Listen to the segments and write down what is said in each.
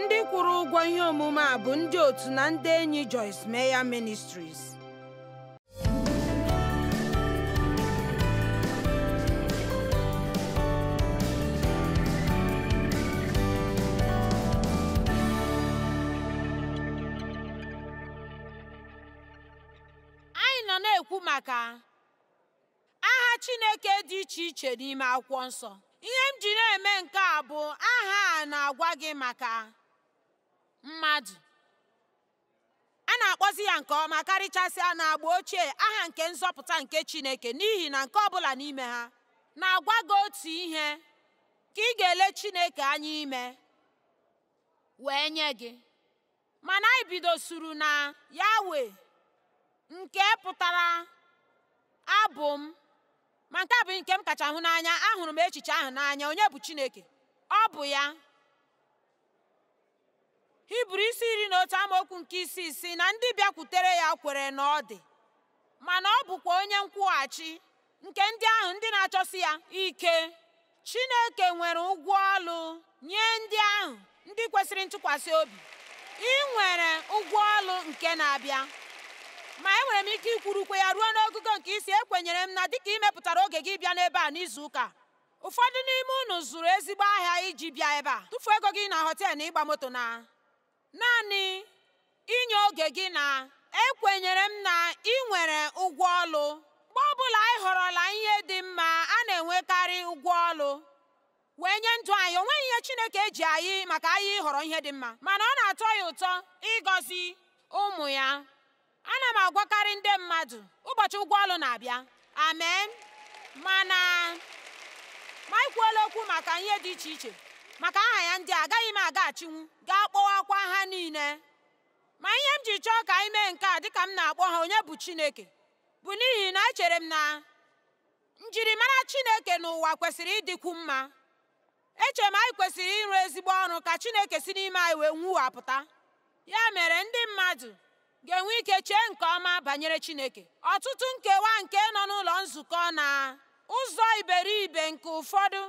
ndị kwụrụ ụgwọ ihe omume a bụ ndị otu na ndị enyi Joyce Meyer Ministries anyị nọ na-ekwu maka aha Chineke dị iche iche n'ime akwụkwọ nsọ ihe m ji na-eme nke a bụ aha na-agwa gị maka mmadụ a na-akpọzi ya nke ọma karịchasịa n'agba ochie aha nke nzọpụta nke Chineke n'ihi na nke ọbụla n'ime ha na-agwa gị otu ihe nke ị ga-ele Chineke anya ime wee nye gị mana anyị bidosuru na yawe nke pụtara abụ m ma nke a bụ nke m kacha hụ n'anya ahụrụ m echiche ahụ n'anya onye bụ chineke ọ bụ ya hibru isi iri na otu amaokwu nke isii sị na ndị bịakwutere ya kwere na ọ dị mana ọ bụkwa onye nkwụghachi nke ndị ahụ ndị na-achọsi ya ike chineke nwere ụgwọ ọlụ nye ndị ahụ ndị kwesịrị ntụkwasị obi ị nwere ụgwọ ọlụ nke na-abịa ma enwere m ike ikwurukwa ya ruo n'ogogo nke ịsị ekwenyere m na dịka ị mepụtara oge gị bịa n'ebe a n'izu ụka ụfọdụ n'ime unu zụrụ ezigbo ahịa iji bịa ebe a tufuo ego gị na họteelụ na ịgba moto na Naanị inye oge gị na ekwenyere m na ị nwere ụgwọ ọlụ. Mgbe ọbụla anyị họrọla ihe dị mma, a na-enwekarị ụgwọ ọlụ wee nye ndụ anyị. O nweghị ihe Chineke ji anyị maka anyị ịhọrọ ihe dị mma, mana ọ na-atọ ya ụtọ ịgọzi ụmụ ya. ana m agwakarị ndị mmadụ ụbọchị ụgwọ ọlụ na-abịa amen mana ma anyị kwuola okwu maka ihe dị iche iche maka aha ya ndị agaghị m agaghachinwu gaa kpọwakwa ha niile ma ihe m ji chọọ ka anyị mee nke a dịka m na-akpọ ha onye bụ chineke bụ n'ihi na echere m na njirimara chineke n'ụwa kwesịrị ịdịkwu mma echere m anyị kwesịrị ịrụ ezigbo ọrụ ka Chineke si n'ime anyị wee nwuwapụta ya mere ndị mmadụ ga-enwe ike chee nke ọma banyere Chineke ọtụtụ nkewa nke nọ n'ụlọ nzukọ na ụzọ iberibe nke ụfọdụ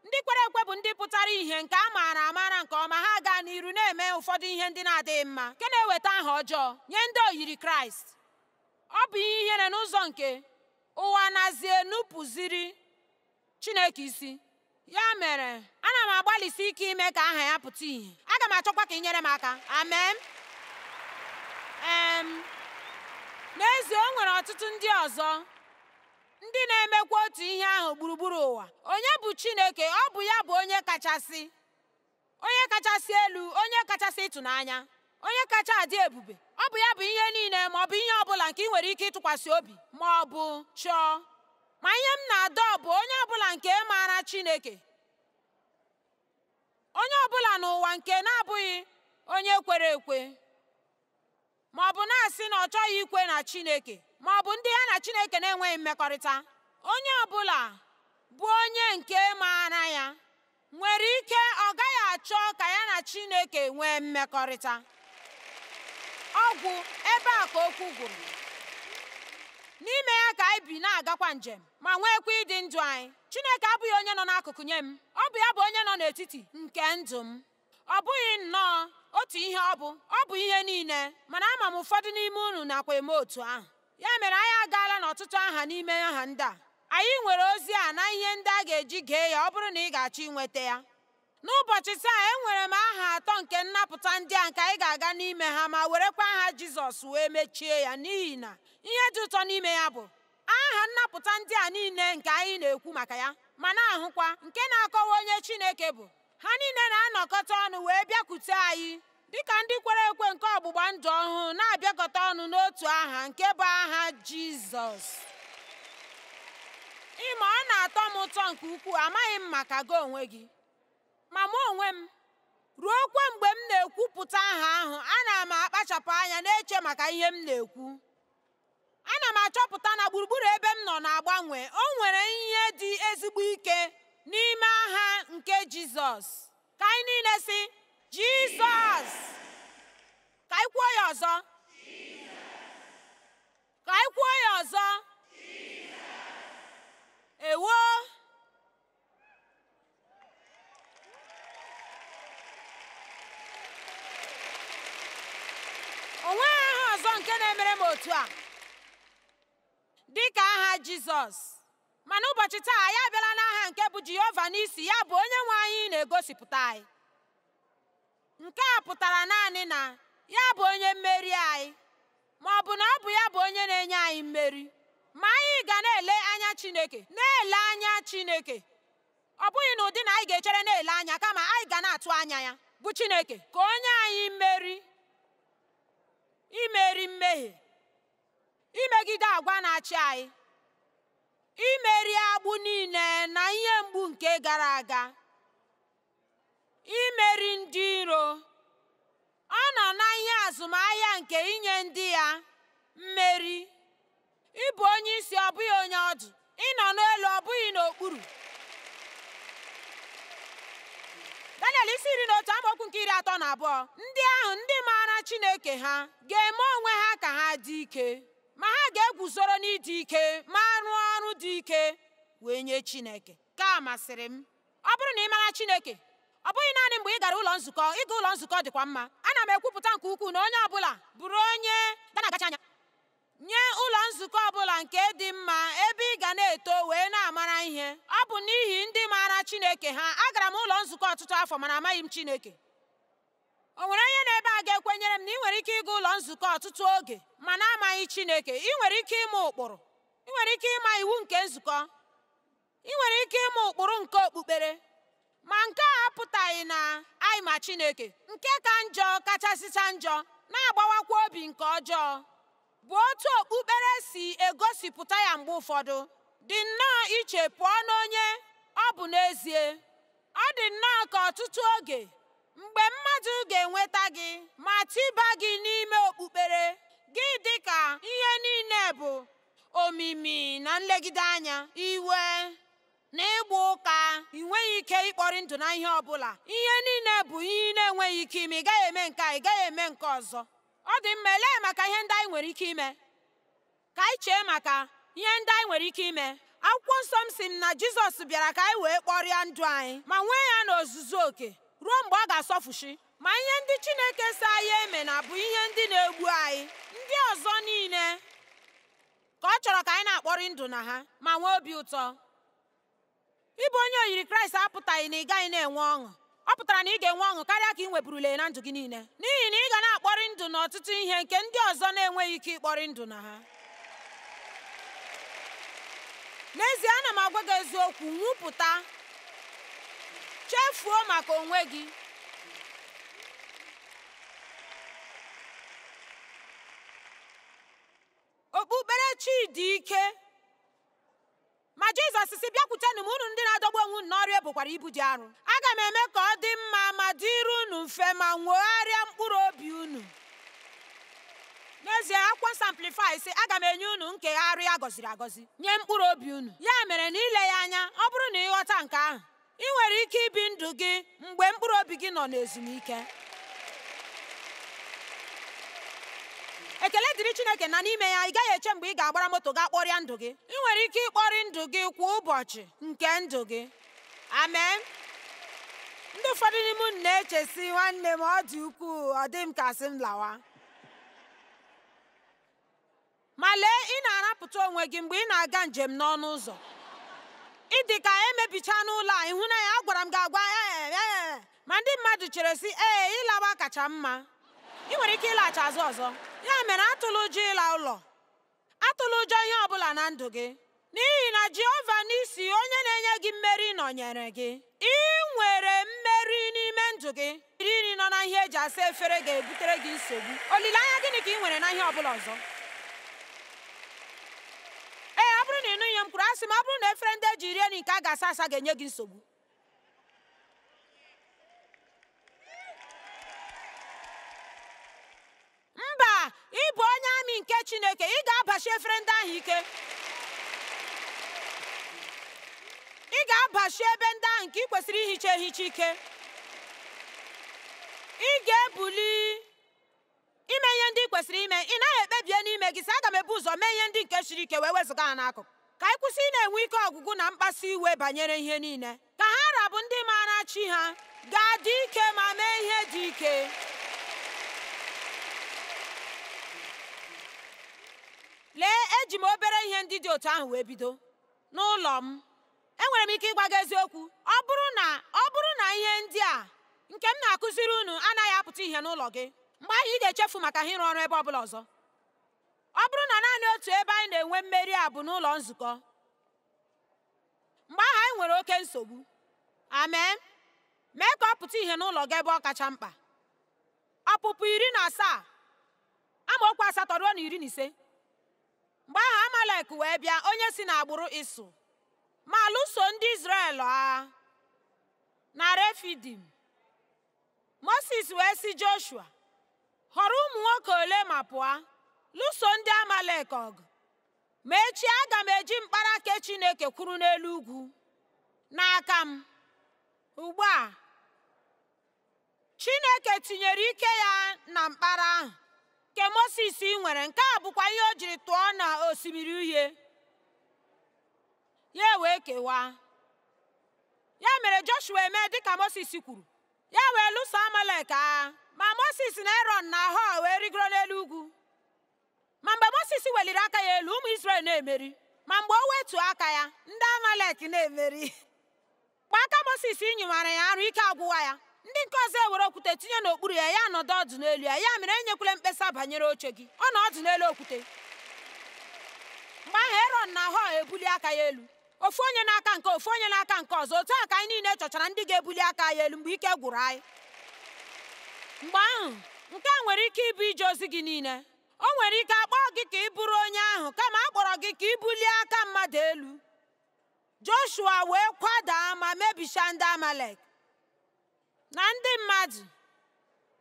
ndị kwere ekwe bụ ndị pụtara ihe nke a maara amara nke ọma ha gaa n'iru na-eme ụfọdụ ihe ndị na-adịghị mma nke na-eweta aha ọjọọ nye ndị oyiri Kraịst ọ bụ ihe ihere n'ụzọ nke ụwa nazi enupụziri Chineke isi ya mere ana m agbalịsi ike ime ka aha ya pụta ìhè aga m achọkwa ka i nyere m aka amen n'ezie o nwere ọtụtụ ndị ọzọ ndị na-emekwa otu ihe ahụ gburugburu ụwa onye bụ Chineke ọ bụ ya bụ onye kachasị onye kachasị elu onye kachasị ịtụnanya onye kacha adị ebube ọ bụ ya bụ ihe niile ma ọ bụ ihe ọ bụla nke i nwere ike ịtụkwasị obi ma ọ bụ chọọ ma ihe m na-adọ bụ onye ọ bụla nke maara Chineke onye ọ bụla n'ụwa nke na-abụghị onye kwere ekwe ma ọ bụ na-asị na ọ chọghị ikwe na Chineke ma ọ bụ ndị ya na Chineke na-enweghị mmekọrịta onye ọ bụla bụ onye nke maara ya nwere ike ọ gaghị achọ ka ya na Chineke nwee mmekọrịta ọ gwụ ebe a ka okwu gwụrụ n'ime ya ka anyị bi na-agakwa njem ma nweekwa ịdị ndụ anyị Chineke abụghị onye nọ n'akụkụ nye m ọ bụ ya bụ onye nọ n'etiti nke ndụ m ọ bụghị nnọọ otu ihe ọ bụ ọ bụ ihe niile mana ama m ụfọdụ n'ime unu nakwa eme otu ahụ ya mere anyị agaala n'ọtụtụ aha n'ime aha ndị a anyị nwere ozi a na ihe ndị a ga-eji gee ya ọ bụrụ na ị ga-achọ inweta ya n'ụbọchị taa enwere m aha atọ nke nnapụta ndị a nke anyị ga-aga n'ime ha ma werekwa aha jizọs wee mechie ya n'ihi na ihe dị ụtọ n'ime ya bụ aha nnapụta ndị a niile nke anyị na-ekwu maka ya ma na-ahụkwa nke na-akọwa onye chineke bụ ha niile na-anọkọta ọnụ wee bịakwute anyị dịka ndị kwere ekwe nke ọgbụgba ndụ ọhụụ na-abịakọta ọnụ n'otu aha nke bụ aha Jizọs ị ma ọ na-atọ m ụtọ nke ukwuu amaghị m maka gị onwe gị ma mụ onwe m ruokwa mgbe m na-ekwupụta aha ahụ ana m akpachapụ anya na-eche maka ihe m na-ekwu ana m achọpụta na gburugburu ebe m nọ na-agbanwe o nwere ihe dị ezigbo ike n'ime aha nke jizọs ka anyị niile sị jizọs ka anyị kwuo ya ọzọ ka anyị kwuo ya ọzọ ewo o nweghị aha ọzọ nke na-emere m otu a dị ka aha Jizọs ma n'ụbọchị taa anyị abịala n'aha nke bụ Jehova Nissi ya bụ onye nwe anyị na-egosipụta anyị nke a pụtara naanị na ya bụ onye mmeri anyị ma ọ bụ na ọ bụ ya bụ onye na-enye anyị mmeri ma anyị ga na-ele anya Chineke na-ele anya Chineke ọ bụghị na ụdị na anyị ga-echere na-ele anya kama anyị ga na-atụ anya ya bụ Chineke ka o nye anyị mmeri imeri mmehie imegide agwa na-achị anyị imeri agbụ niile na ihe mgbu nke gara aga imeri ndị iro ọ nọ na ihe azụmahịa nke inye ndị ya mmeri ịbụ onye isi ọ bụghị onye ọdụ ịnọ n'elu ọ bụghị n'okpuru daniel isi iri na otu amaokwu nke iri atọ na abụọ ndị ahụ ndị maara chineke ha ga-eme onwe ha ka ha dị ike ma ha ga-eguzoro n'ịdị ike ma rụọ ọrụ dị ike wee nye chineke nke a masịrị m ọ bụrụ na ị mara Chineke ọ bụghị naanị mgbe ị gara ụlọ nzukọ ịga ụlọ nzukọ dịkwa mma ana m ekwupụta nke ukwuu na onye ọbụla bụrụ onye ga na-agachi anya nye ụlọ nzukọ ọbụla nke dị mma ebe ị ga na-eto wee na-amara ihe ọ bụ n'ihi ndị maara Chineke ha agara m ụlọ nzukọ ọtụtụ afọ mana amaghị m Chineke o nwere onye n'ebe a ga-ekwenyere m na ị nwere ike ịga ụlọ nzukọ ọtụtụ oge ma na-amaghị Chineke ị nwere ike ịma ụkpụrụ ị nwere ike ịma iwu nke nzukọ ị nwere ike ịma ụkpụrụ nke okpukpere ma nke a apụtaghị na anyị ma Chineke nke ka njọ kachasịcha njọ na-agbawakwa obi nke ọjọọ bụ otu okpukpere si egosipụta ya mgbe ụfọdụ dị nnọọ iche pụọ n'onye ọ bụ n'ezie ọ dị nnọọ ka ọtụtụ oge mgbe mmadụ ga-enweta gị ma tiba gị n'ime okpukpere gị dị ka ihe niile bụ omimi na nlegide anya iwe na ịgba ụka ị nweghị ike ịkpọrị ndụ na ihe ọ bụla ihe niile bụ ihe ị na-enweghị ike ime ị gaghị eme nke a ị gaghị eme nke ọzọ ọ dị mma elee maka ihe ndị anyị nwere ike ime ka anyị chee maka ihe ndị anyị nwere ike ime akwụkwọ nsọ m sị m na jizọs bịara ka anyị wee kpọrịa ndụ anyị ma nwee ya n'ozuzu oke ruo mgbe ọ ga-asọfushi ma ihe ndị Chineke sị anyị emena bụ ihe ndị na-egbu anyị ndị ọzọ niile ka ọ chọrọ ka anyị na-akpọrị ndụ na ha ma nwee obi ụtọ ịbụ onye oyiri Kraịst apụtaghị na ị gaghị na-enwe ọṅụ ọ pụtara na ị ga-enwe ọṅụ karịa ka ị nweburule na ndụ gị niile n'ihi na ị ga na-akpọrị ndụ n'ọtụtụ ihe nke ndị ọzọ na-enweghị ike ịkpọrị ndụ na ha n'ezie ana m agwa gị eziokwu nwụpụta chefuo maka onwe gị okpukperechi dị ike Ma Jizọs sị bịakwutenụ m unu ndị na-adọgbu onwe unu n'ọrụ ebukwara ibu dị arụ aga m eme ka ọ dị mma ma dịrị unu mfe ma nwegharịa mkpụrụ obi unu n'ezie akwụkwọ nsọ amplifai sị aga m enye unu nkegharị a gọziri agọzi nye mkpụrụ obi unu ya mere na ile ya anya ọ bụrụ na ị ghọta nke ahụ ị nwere ike ibi ndụ gị mgbe mkpụrụ obi gị nọ n'ezumike ekele dịrị chineke na n'ime ya ị gaghị eche mgbe ị ga-agbara moto gaa kpọrịa ndụ gị ị nwere ike ịkpọrị ndụ gị kwa ụbọchị nke ndụ gị amen ndị ụfọdụ n'ime unu na-eche sị nwanne m ọ dị ukwuu ọ dị m ka sị m lawa ma lee ị na-arapụta onwe gị mgbe ị na-aga njem n'ọnụ ụzọ ị dị ka emebicha n'ụlọ a ị hụ na ya agwara m gị agwa ee ma ndị mmadụ chere sị ee ịlawa kacha mma ị nwere ike ịlaghachi azụ ọzọ ya mere atụla ụjọ ịla ụlọ atụla ụjọ ihe ọ bụla na ndụ gị n'ihi na jehova nissi onye na-enye gị mmeri nọnyere gị ị nwere mmeri n'ime ndụ gị iri nọ na ihe eji asa efere ga-ebutere gị nsogbu olileanya gịnị ka ị nwere na ihe ọbụla ọzọ ee ọ bụrụ na ị nụghị ihe m kwuru asị m ọ bụrụ na efere ndị eji rie nri nke a ga-asa asa ga-enye gị nsogbu mba ị bụ onye amị nke chineke ị ga-abachi efere ndị ahụ ike ị ga-abachi ebe ndị ahụ nke ị kwesịrị ihicha ehicha ike ị ga-ebuli ime ihe ndị ị kwesịrị ime ị naghị ekpebie n'ime gị sị aga m ebu ụzọ mee ihe ndị nke siri ike wee wezụga ha n'akụkụ ka anyị kwụsị ịna-enwe ike ọgwụgwụ na mkpasu iwe banyere ihe niile ka ha ra bụ ndị maara chi ha ga-adị ike ma mee ihe dị ike lee eji m obere ihe ndị dị otu ahụ wee bido n'ụlọ m enwere m ike ịgwa gị eziokwu ọ bụrụ na ihe ndị a nke m na-akụziri unu anaghị apụta ihe n'ụlọ gị mgbe ahụ ị ga-echefu maka ha ịrụ ọrụ ebe ọ bụla ọzọ ọ bụrụ na naanị otu ebe anyị na-enwe mmeri a bụ n'ụlọ nzukọ mgbe ahụ anyị nwere oke nsogbu amen mee ka ọ pụta ihe n'ụlọ gị ebe ọ kacha mkpa ọpụpụ iri na asaa amaokwu asatọ ruo na iri na ise mgbe ahụ amalek wee bịa onye si n'agbụrụ ịsọ ma lụso ndị izrel agha na refidim moses wee sị joshua họrọ ụmụ nwoke ole ma pụọ lụso ndị amalek ọgụ ma echi aga m eji mkpara nke chineke kwụrụ n'elu ugwu n'aka m ugbu a chineke tinyere ike ya na mkpara ahụ nke moses nwere nke a bụkwa ihe o jiri tụọ na osimiri uhie ya wee kewaa ya mere joshua emee dịka moses kwuru ya wee lụso amalek agha ma moses na erọn na họọ wee rigoro n'elu ugwu ma mgbe moses weliri aka ya elu ụmụ israel na-emeri ma mgbe o wetu aka ya ndị amalek na-emeri Mgbe aka Moses nyịwara ya arụ ike agwụwa ya ndị nke ọzọ ewere okwute tinye n'okpuru ya ya nọdụ ọdụ n'elu ya ya mere enyekwala mkpesa banyere oche gị ọ nọ ọdụ n'elu okwute mgbe ahụ erọn na họọ ebulie aka ya elu ofu onye n'aka nke ofu onye n'aka nke ọzọ otu a ka anyị niile chọchara ndị ga-ebuli aka ya elu mgbe ike gwụrụ anyị mgbe ahụ nke a nwere ike ịbụ ije ozi gị niile o nwere ike akpọọ gị ka ị bụrụ onye ahụ kama a kpọrọ gị ka ị bulie aka mmadụ elu joshua wee kwadaa ma mebichaa ndị amalek na ndị mmadụ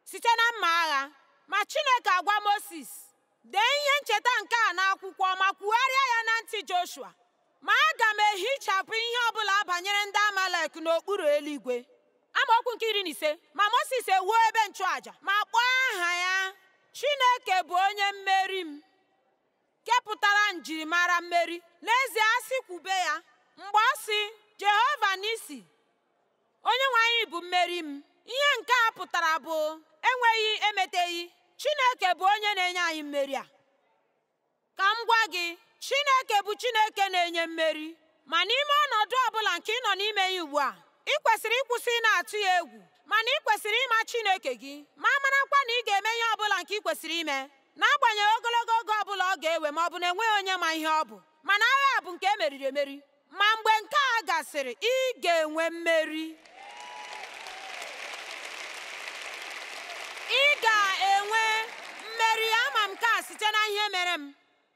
site na mma agha ma chineke agwa moses dee ihe ncheta nke a n'akwụkwọ ma kwugharịa ya na ntị joshua ma aga m ehichapụ ihe ọbụla banyere ndị amalek n'okpuru eluigwe amaokwu nke iri na ise ma moses ewuo ebe nchụaja ma kpọọ aha ya chineke bụ onye mmeri m nke pụtara njirimara mmeri n'ezie a sị kwube ya mgbe ọ sị Jehova Nisi onye nwe anyị bụ mmeri m ihe nke a pụtara bụ enweghị emeteghị Chineke bụ onye na-enye anyị mmeri a ka m gwa gị Chineke bụ Chineke na-enye mmeri ma n'ime ọnọdụ ọ bụla nke ị nọ n'ime ya ugbu a ị kwesịrị ịkwụsị ịna-atụ ya egwu mana ị kwesịrị ịma Chineke gị ma marakwa na ị ga-eme ihe ọ bụla nke ị kwesịrị ime n'agbanyeghị ogologo oge ọ bụla ọ ga-ewe ma ọ bụ na enweghị onye ma ihe ọ bụ mana agha a bụ nke e meriri emeri ma mgbe nke a gasịrị ị ga-enwe mmeri ị ga-enwe mmeri ama m nke a site na ihe mere m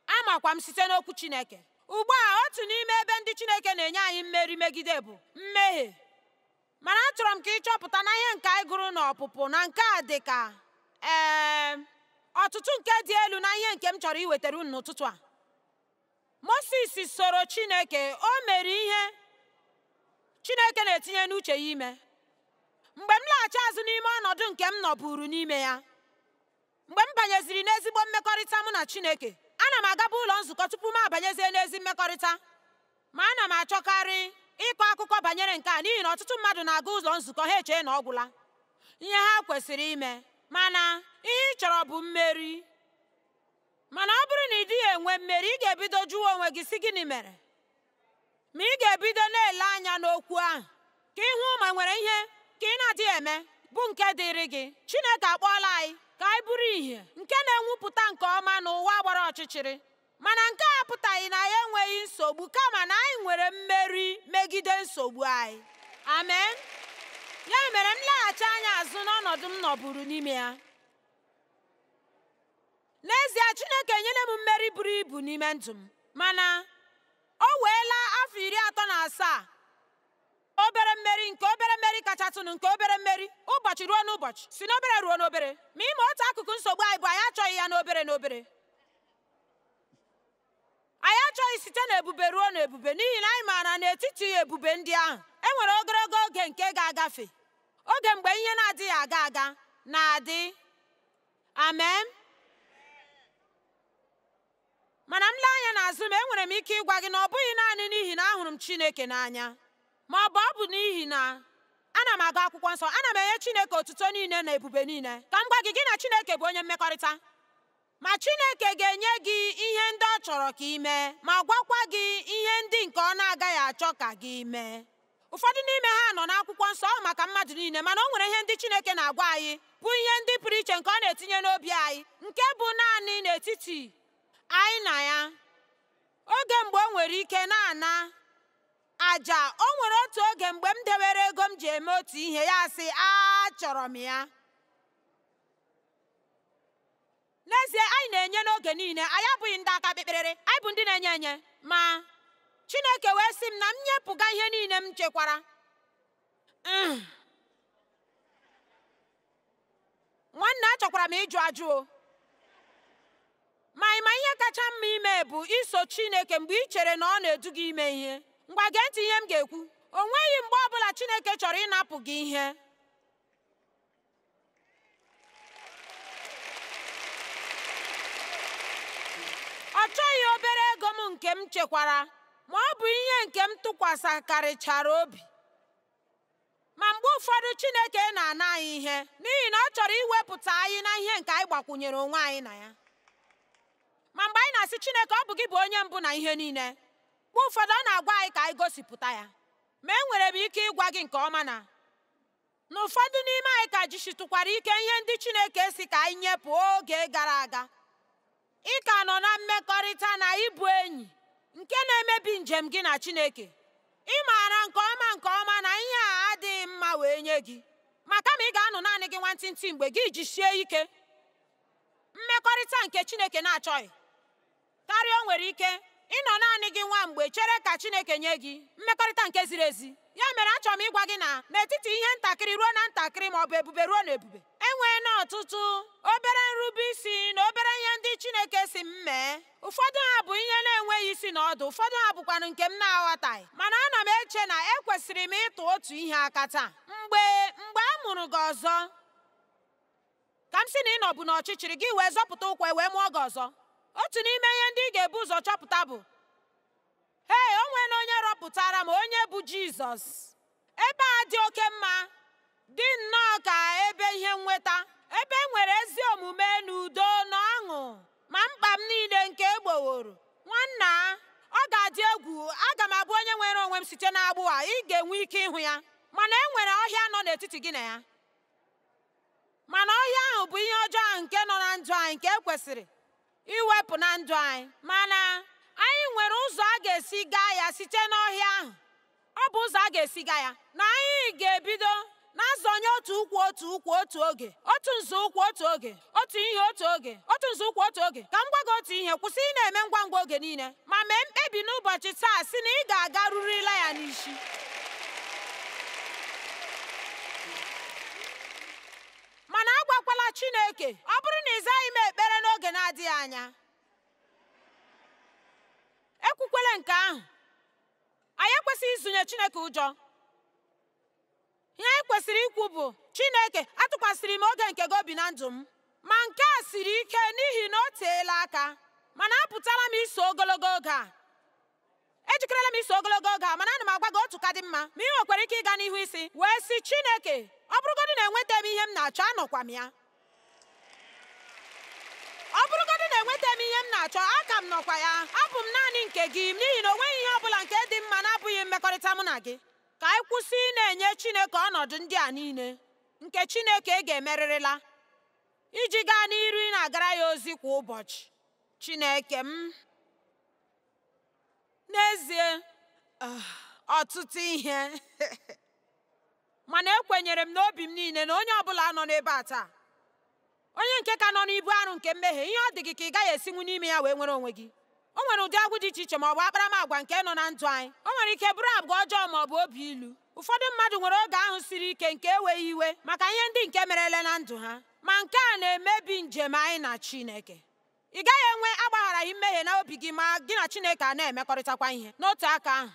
amakwa m site n'okwu Chineke ugbu a otu n'ime ebe ndị Chineke na-enye anyị mmeri megide bụ mmehie mana achọrọ m ka ị chọpụta na ihe nke anyị gụrụ na ọpụpụ na nke a dị ka ee ọtụtụ nke dị elu na ihe nke m chọrọ iwetara unu n'ụtụtụ a Moses soro Chineke o mere ihe Chineke na-etinye n'uche ya ime mgbe m laghachi azụ n'ime ọnọdụ nke m nọburu n'ime ya mgbe m banyeziri n'ezigbo mmekọrịta mụ na Chineke ana m agaba ụlọ nzukọ tupu m abanyezie n'ezi mmekọrịta ma ana m achọkarị ịkọ akụkọ banyere nke a n'ihi na ọtụtụ mmadụ na-aga ụlọ nzukọ ha echee na ọ gwụla ihe ha kwesịrị ime mana ihe ị chọrọ bụ mmeri mana ọ bụrụ na ị dịghị enwe mmeri ị ga-ebido jụwa onwe gị sị gịnị mere ma ị ga-ebido na-ele anya n'okwu ahụ ka ị hụ ma nwere ihe ka ị na-adịghị eme bụ nke dịrị gị Chineke akpọọla anyị ka anyị bụrụ ìhè nke na-enwupụta nke ọma n'ụwa gbara ọchịchịrị mana nke a apụtaghị na anyị enweghị nsogbu kama na anyị nwere mmeri megide nsogbu anyị amen ya mere m leghachi anya azụ n'ọnọdụ m nọburu n'ime ya n'ezie chineke enyela m mmeri buru ibu n'ime ndụ m mana o weela afọ iri atọ na asaa obere mmeri nke obere mmeri kachatụnụ nke obere mmeri ụbọchị ruo n'ụbọchị si n'obere ruo n'obere ma ị ma otu akụkụ nsogbu anyị bụ anyị achọghị ya n'obere n'obere anyị achọghị site na ebube ruo na ebube n'ihi na anyị maara n'etiti ebube ndị ahụ e nwere ogologo oge nke ga-agafe oge mgbe ihe na-adịghị aga aga na-adị amen mana m lee anya n'azụ m enwere m ike ịgwa gị na ọ bụghị naanị n'ihi na ahụrụ m Chineke n'anya ma ọ bụ ọ bụ n'ihi na ana m agụ akwụkwọ nsọ ana m enye Chineke otuto niile na ebube niile ka m gwa gị gị na Chineke bụ onye mmekọrịta ma Chineke ga-enye gị ihe ndị ọ chọrọ ka ị mee ma gwakwa gị ihe ndị nke ọ na-agaghị achọ ka gị mee ụfọdụ n'ime ha nọ n'akwụkwọ nsọ ọ bụ maka mmadụ niile mana o nwere ihe ndị Chineke na-agwa anyị bụ ihe ndị pụrụ iche nke ọ na-etinye n'obi anyị nke bụ naanị n'etiti anyị na ya oge mgbe o nwere ike na-ana aja o nwere otu oge mgbe m dewere ego m ji eme otu ihe ya sị achọrọ m ya N'ezie, anyị na-enye n'oge niile, anyị abụghị ndị aka kpekperere, anyị bụ ndị na-enye enye. Ma Chineke wee sị m na m nyepụga ihe niile m chekwara. Mm. Nwanne achọkwara m ịjụ ajụ o. Ma ị ma ihe kacha mma ime bụ iso Chineke mgbe ị chere na ọ na-edu gị ime ihe. Ngwa gee ntị ihe m ga-ekwu. O nweghị mgbe ọ bụla Chineke chọrọ ịnapụ gị ihe. ọ chọghị obere ego m nke m chekwara ma ọ bụ ihe nke m tụkwasịkarịchara obi ma mgbe ụfọdụ Chineke na-ana anyị ihe n'ihi na ọ chọrọ iwepụta anyị na ihe nke anyị gbakwunyere onwe anyị na ya ma mgbe anyị na-asị Chineke ọ bụ gị bụ onye mbụ na ihe niile mgbe ụfọdụ ọ na-agwa anyị ka anyị gosipụta ya ma enwere m ike ịgwa gị nke ọma na na ụfọdụ n'ime anyị ka jisitụkwara ike ihe ndị Chineke sị ka anyị nyepụ oge gara aga ị ka nọ na mmekọrịta na ịbụ enyi nke na-emebi njem gị na Chineke ị maara nke ọma nke ọma na ihe a adịghị mma wee nye gị ma kama ị ga-anọ naanị gị nwantịntị mgbe gị ejisie ike mmekọrịta nke Chineke na-achọghị karịa o nwere ike ịnọ naanị gị nwa mgbe chere ka Chineke nye gị mmekọrịta nke ziri ezi ya mere achọrọ m ịgwa gị na n'etiti ihe ntakịrị ruo na ntakịrị ma ọ bụ ebube ruo na ebube enwee na ọtụtụ obere nrube isi na obere ihe ndị Chineke sị m mee ụfọdụ ha bụ ihe na-enweghị isi na ọdụ ụfọdụ ha bụkwanụ nke m na-aghọtaghị mana ana m eche na ekwesịrị m ịtụ otu ihe aka taa mgbe mgbe a mụrụ gị ọzọ ka m sị na ị nọbu n'ọchịchịrị gị wee zọpụta ụkwụ e wee mụọ gị ọzọ otu n'ime ihe ndị ị ga-ebu ụzọ chọpụta bụ ee o nwere onye rọpụtara m onye bụ Jizọs ebe a dị oke mma dị nnọọ ka ebe ihe nnweta ebe e nwere ezi omume na udo na ọṅụ ma mkpa m niile nke egboworo nwanna ọ ga-adị egwu aga m abụ onye nwere onwe m site n'agbụ a ị ga-enwe ike ịhụ ya mana e nwere ọhịa nọ n'etiti gị na ya mana ọhịa ahụ bụ ihe ọjọọ ahụ nke nọ na ndụ anyị nke ekwesịrị iwepụ na ndụ anyị mana anyị nwere ụzọ a ga-esi gaa ya site n'ọhịa ahụ ọ bụ ụzọ a ga-esi gaa ya na anyị ga-ebido na-azọnye otu ụkwụ otu ụkwụ otu oge otu nzọụkwụ otu oge otu ihe otu oge otu nzọụkwụ otu oge ka m gwa gị otu ihe kwụsị ị na-eme ngwa ngwa oge niile ma mee mkpebi n'ụbọchị taa sị na ị ga-agarurila ya n'isi mana agwakwala Chineke ọ bụrụ na ị zaghị m ekpere n'oge na-adịghị anya ekwukwele nke ahụ anyị ekwesịghị izunye Chineke ụjọ ihe anyị kwesịrị ikwu bụ Chineke atụkwasịrị m oge nke gị obi na ndụ m ma nke a siri ike n'ihi na o teela aka mana apụtala m iso ogologo oge a ejikerela m iso ogologo oge a mana ana m agwa gị otu ka dị mma ma ị nwekwara ike ịga n'ihu isi wee sị Chineke ọ bụrụgodị na enweta m ihe m na-achọ anọkwa m ya ọ bụrụgodị na enweta m ihe m na-achọ aka m nọkwa ya abụ m naanị nke gị n'ihi na o nweghị ihe ọ bụla nke dị mma na-abụghị mmekọrịta mụ na gị ka anyị kwụsị ị na-enye Chineke ọnọdụ ndị a niile nke Chineke e ga-emerịrịla iji gaa n'iru ị na-agara ya ozi kwa ụbọchị Chineke m n'ezie ah, ọtụtụ ihe mana ekwenyere m n'obi m niile na onye ọbụla nọ n'ebe a taa onye nke ka nọ n'ibu arụ nke mmehie ihe ọ dị gị ka ị gaghị esinwu n'ime ya wee nwere onwe gị o nwere ụdị agbụ dị iche iche ma ọ bụ akparamagwa nke nọ na ndụ anyị o nwere ike bụrụ agwa ọjọọ ma ọ bụ obi ilu ụfọdụ mmadụ nwere oge ahụ siri ike nke enweghị iwe maka ihe ndị nke merele na ndụ ha ma nke a na-emebi njem anyị na Chineke ị gaghị enwe agbagharaghị mmehie na obi gị ma gị na Chineke a na-emekọrịtakwa ihe n'otu aka ahụ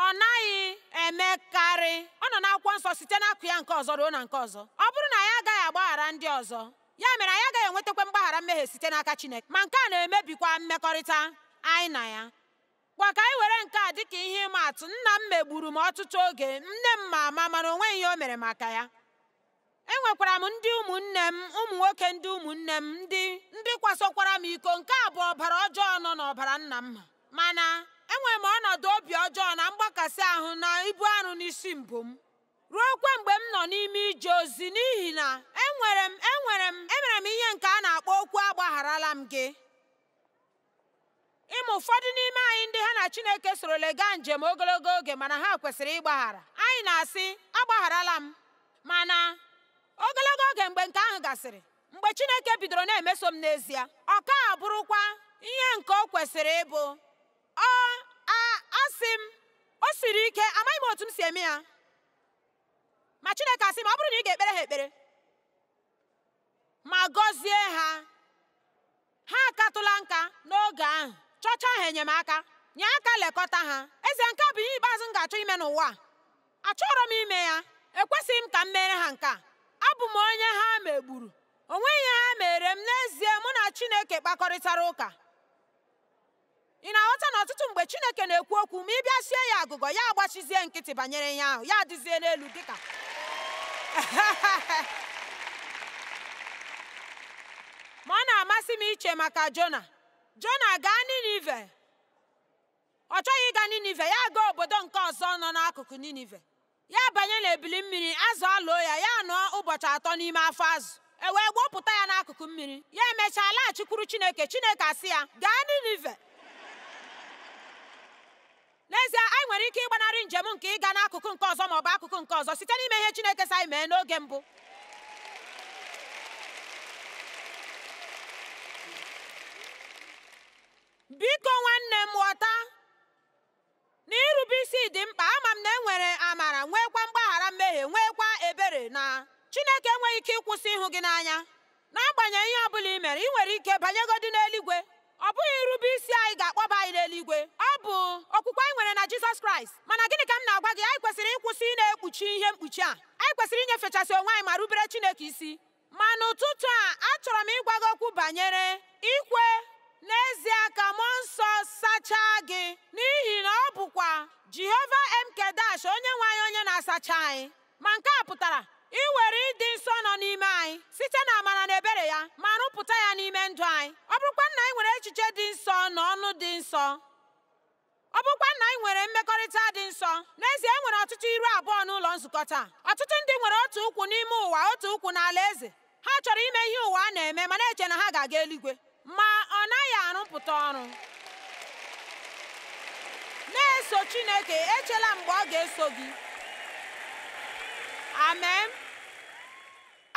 ọ naghị emekarị ọ nọ n'akwụkwọ nsọ site n'akụkụ ya nke ọzọ ruo na nke ọzọ ọ bụrụ na anyị agaghị agbaghara ndị ọzọ ya mere anyị agaghị enwetakwa mgbaghara mmehie site n'aka Chineke ma nke a na-emebikwa mmekọrịta anyị na ya ngwa ka anyị were nke a dịka ihe ịma atụ nna m megburu m ọtụtụ oge nne m ma ama mana o nweghị ihe o mere maka ya enwekwara m ndị ụmụnne m ụmụ nwoke ndị ụmụnne m ndị ndị kwasokwara m iko nke a bụ ọbara ọjọọ nọ n'ọbara nna m mana enwere m ọnọdụ obi ọjọọ na mgbakasị ahụ na ibu arụ n'isi mbụ m ruokwa mgbe m nọ n'ime ije ozi n'ihi na enwere m enwere m emere m ihe nke a na-akpọ okwu agbagharala m gị ị ma ụfọdụ n'ime anyị ndị ha na Chineke sorole gaa njem ogologo oge mana ha kwesịrị ịgbaghara anyị na-asị agbagharala m mana ogologo oge mgbe nke ahụ gasịrị mgbe Chineke bidoro na-emeso m n'ezie ọ ka abụrụkwa ihe nke o kwesịrị ịbụ ọ asị m o siri ike amaghị m otu m si eme ya ma Chineke asị m ọ bụrụ na ị ga-ekpere ha ekpere ma gọzie ha ha akatụla nka n'oge ahụ chọcha ha enyemaka nye aka lekọta ha ezie nke a bụ ihe ikpeazụ m ga-achọ ime n'ụwa achọrọ m ime ya ekwesịghị m ka m mere ha nke a abụ m onye ha megburu o nweghị ihe ha meere m n'ezie mụ na Chineke kpakọrịtara ụka ị na-aghọta na ọtụtụ mgbe Chineke na-ekwu okwu ma ị bịa sie ya agụgọ ya agbachizie nkịtị banyere ihe ahụ ya adịzie n'elu dịka ma ọ na-amasị m iche maka Jona Jona gaa Ninive ọ chọghị ịga Ninive ya gaa obodo nke ọzọ nọ n'akụkụ Ninive ya banye n'ebili mmiri azụ eloo ya ya nọọ ụbọchị atọ n'ime afọ azụ e wee gbọpụta ya n'akụkụ mmiri ya emechaa laghachikwuru chineke chineke asị ya gaa ninive n'ezie anyị nwere ike ịgbanarị njem nke ịga n'akụkụ nke ọzọ ma ọ bụ akụkụ nke ọzọ site n'ime ihe chineke sị anyị mee n'oge mbụ biko nwanne m ghọta na irube isi dị mkpa ama m na e nwere amara nweekwa mgbaghara mmehie nweekwa ebere na Chineke enweghị ike ịkwụsị ịhụ gị n'anya n'agbanyeghị ihe ọ bụla i mere i nwere ike banyegodi n'eluigwe ọ bụghị irube isi anyị ga-akpọba anyị n'eluigwe ọ bụ okwukwe anyị nwere na Jizọs Kraịst mana gịnị ka m na-agwa gị anyị kwesịrị ịkwụsị ịna-ekpuchi ihe mkpuchi a anyị kwesịrị inyefechasị onwe anyị ma rubere Chineke isi ma n'ụtụtụ a achọrọ m ịgwa gị okwu banyere ikwe n'ezie ka mmụọ nsọ sachaa gị n'ihi na ọ bụkwa jehova mkedash onye nwe anyị onye na-asacha anyị ma nke a pụtara iwere ịdị nsọ nọ n'ime anyị site na amara na ebere ya ma rụpụta ya n'ime ndụ anyị ọ bụrụkwa na anyị nwere echiche dị nsọ na ọnụ dị nsọ ọ bụkwa na anyị nwere mmekọrịta dị nsọ n'ezie e nwere ọtụtụ iru abụọ n'ụlọ nzukọ taa ọtụtụ ndị nwere otu ụkwụ n'ime ụwa otu ụkwụ n'ala eze ha chọrọ ime ihe ụwa na-eme ma na-eche na ha ga-aga eluigwe ma ọ naghị arụpụta ọrụ na-eso Chineke echela mgbe ọ ga-eso gị amen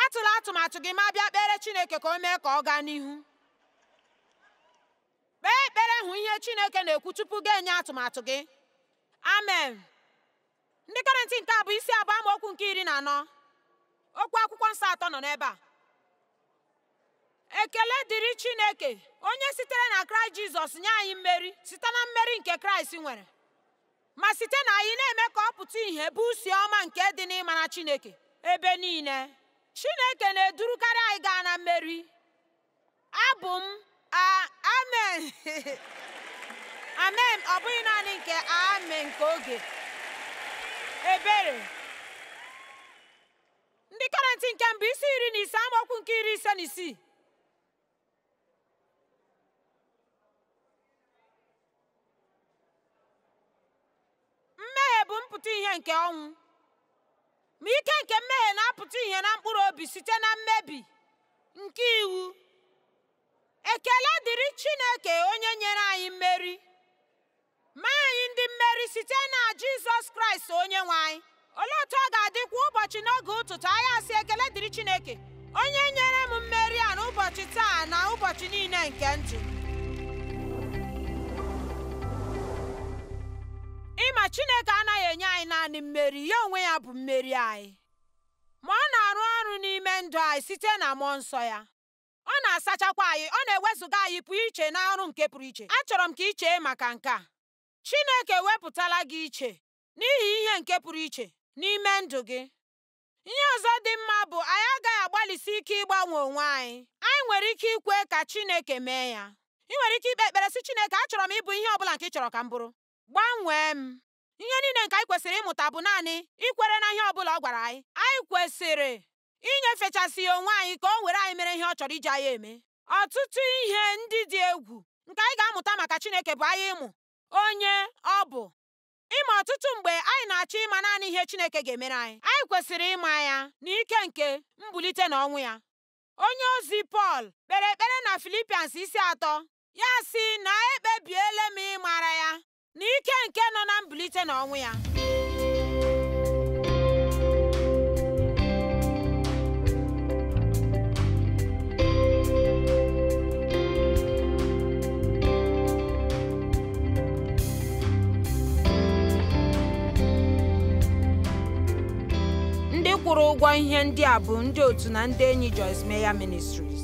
atụla atụmatụ gị ma bịa kpeere Chineke ka o mee ka ọ gaa n'ihu kpee ekpere hụ ihe chineke na-ekwu tupu gị enye atụmatụ gị amen ndị kọrịntị nke abụọ isi abụọ amaokwu nke iri na anọ okwu akwụkwọ nsọ atọ nọ n'ebe a ekele dịrị chineke onye sitere na kraịst jizọs nye anyị mmeri site na mmeri nke kraịst nwere ma site na anyị na-eme ka ọ pụta ìhè bụ usi ọma nke dị n'ịmara Chineke ebe niile Chineke na-edurukarị anyị gaa na mmeri abụ m amen amen ọ bụghị naanị nke amen nke oge ebere ndị kọrịntị nke mbụ isi iri na ise amaokwu nke iri ise na isii mmehie bụ mpụta ìhè nke ọnwụ ma ike nke mmehie na-apụta ìhè na mkpụrụ obi site na mmebi nke iwu ekele dịrị Chineke onye nyere anyị mmeri mee anyị ndị mmeri site na Jizọs Kraịst onye nwe anyị olee otu ọ ga-adị kwa ụbọchị n'oge ụtụtụ anyị asị ekele dịrị Chineke onye nyere m mmeri a n'ụbọchị taa na ụbọchị niile nke ndụ ị ma Chineke anaghị enye anyị naanị mmeri ya onwe ya bụ mmeri anyị ma ọ na-arụ ọrụ n'ime ndụ anyị site na mmụọ nsọ ya ọ na-asachakwa anyị ọ na-ewezuga anyị pụọ iche na ọrụ nke pụrụ iche achọrọ m ka i chee maka nke a Chineke wepụtala gị iche n'ihi ihe nke pụrụ iche n'ime ndụ gị. Ihe ọzọ dị mma bụ anyị agaghị agbalịsi ike ịgbanwe onwe anyị. Anyị nwere ike ikwe ka Chineke mee ya. I nwere ike ikpe ekpere sị Chineke achọrọ m ịbụ ihe ọ bụla nke ị chọrọ ka m bụrụ. Gbanwee m. Ihe niile nke anyị kwesịrị ịmụta bụ naanị ikwere na ihe ọ bụla ọ gwara anyị. Anyị kwesịrị inyefechasị ya onwe anyị ka o were anyị mere ihe ọ chọrọ iji anyị eme. Ọtụtụ ihe ndị dị egwu nke anyị ga-amụta maka Chineke bụ anyị ịmụ onye ọ bụ. ị ma ọtụtụ mgbe anyị na-achọ ịma naanị ihe Chineke ga-emere anyị anyị kwesịrị ịma ya na ike nke mbulite na ọnwụ ya onye ozi Pọl kpere ekpere na Filipians isi atọ ya sị na ekpebiela m ịmara ya na ike nke nọ na mbulite na ọnwụ ya ndị kwụrụ ụgwọ ihe ndị a bụ ndị otu na ndị enyi Joyce Meyer Ministries